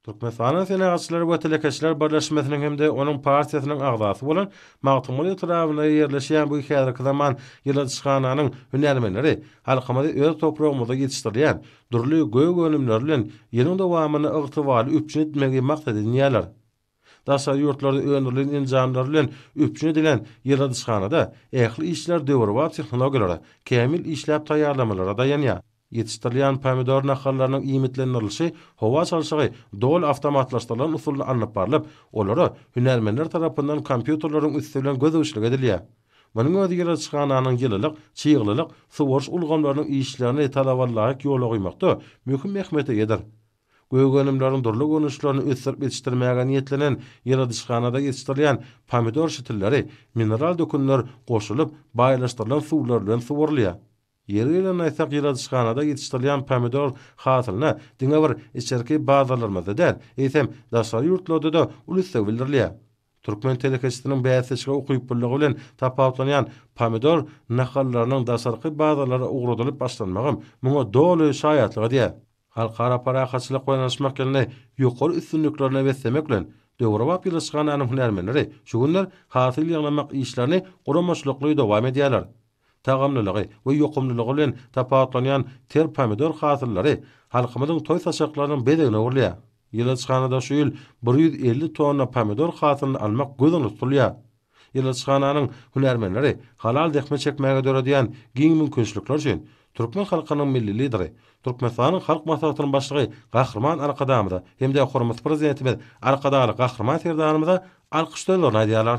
Türkmenistanyň Senagatçylar we telekeçiler birleşmesiniň hem-de onuň partiýasynyň agzasy bolan Magtymguly etrabynda ýerleşýän bu häzirki zaman ýyladyşhananyň hünärmenleri halkymyzy öz topragymyzda ýetişdirilýän dürli gök önümleri bilen ýylyň dowamynda ygtybarly üpjün etmegi maksat edinýärler. Daşary ýurtlarda öndürilen enjamlar bilen üpjün edilen ýyladyşhanada ähli işler döwrebap tehnologiýalara, kämil işläp taýýarlamalara daýanýar. Ýetişdirilýän pomidor nahallarynyň iýmitlendirilişi howa çalşygy doly awtomatlaşdyrylan usulda alnyp barlyp, olara hünärmenler tarapyndan kompýuterleriň üsti bilen gözegçilik edilýär. Munuň özi ýyladyşhananyň ýylylyk, çyglylyk, suwaryş ulgamlarynyň işlerini talabalaýyk ýola goýmakda möhüm ähmiýete eýedir. Gök önümleriň dürli görnüşlerini ösdürip ýetişdirmäge niýetlenen ýyladyşhanada ýetişdirilýän pomidor şitilleri mineral dökünler goşulyp, baýlaşdyrylan suwlar bilen suwarylýar. Ýeri gelende aýtsak, ýyladyşhanada ýetişdirilýän pomidor hasylyna diňe bir içerki bazarlarymyzda däl, eýsem, daşary ýurtlarda-da uly isleg bildirilýär. Türkmen telekeçisiniň bäsdeşlige ukyplylygy bilen tapawutlanýan pomidor nahallarynyň daşarky bazarlara ugradylyp başlanmagam muňa doly şaýatlyk edýär. Halkara parahatçylyk we yanaşmak ýylyny ýokary üstünliklerine beslemek bilen, döwrebap ýylyşhananyň hünärmenleri şu günler hasyl ýygnamak işlerini guramaçylykly dowam edýärler. Tagamlylygy we ýokumlylygy bilen tapawutlanýan ter pomidor hasyllary halkymyzyň toý-saçaklarynyň bezegine öwrülýär. Ýylyşhanada şu ýyl bir ýüz elli tonna pomidor hasylyny almak göz öňünde tutulýar. Ýyladyşhananyň hünärmenleri halal zähmet çekmäge döredýän giň mümkinçilikler üçin türkmen halkynyň Milli Lideri, Türkmenistanyň Halk Maslahatynyň Başlygy Gahryman Arkadagymyza hem-de hormatly Prezidentimiz Arkadagly Gahryman Serdarymyza alkyş sözlerini aýdýarlar.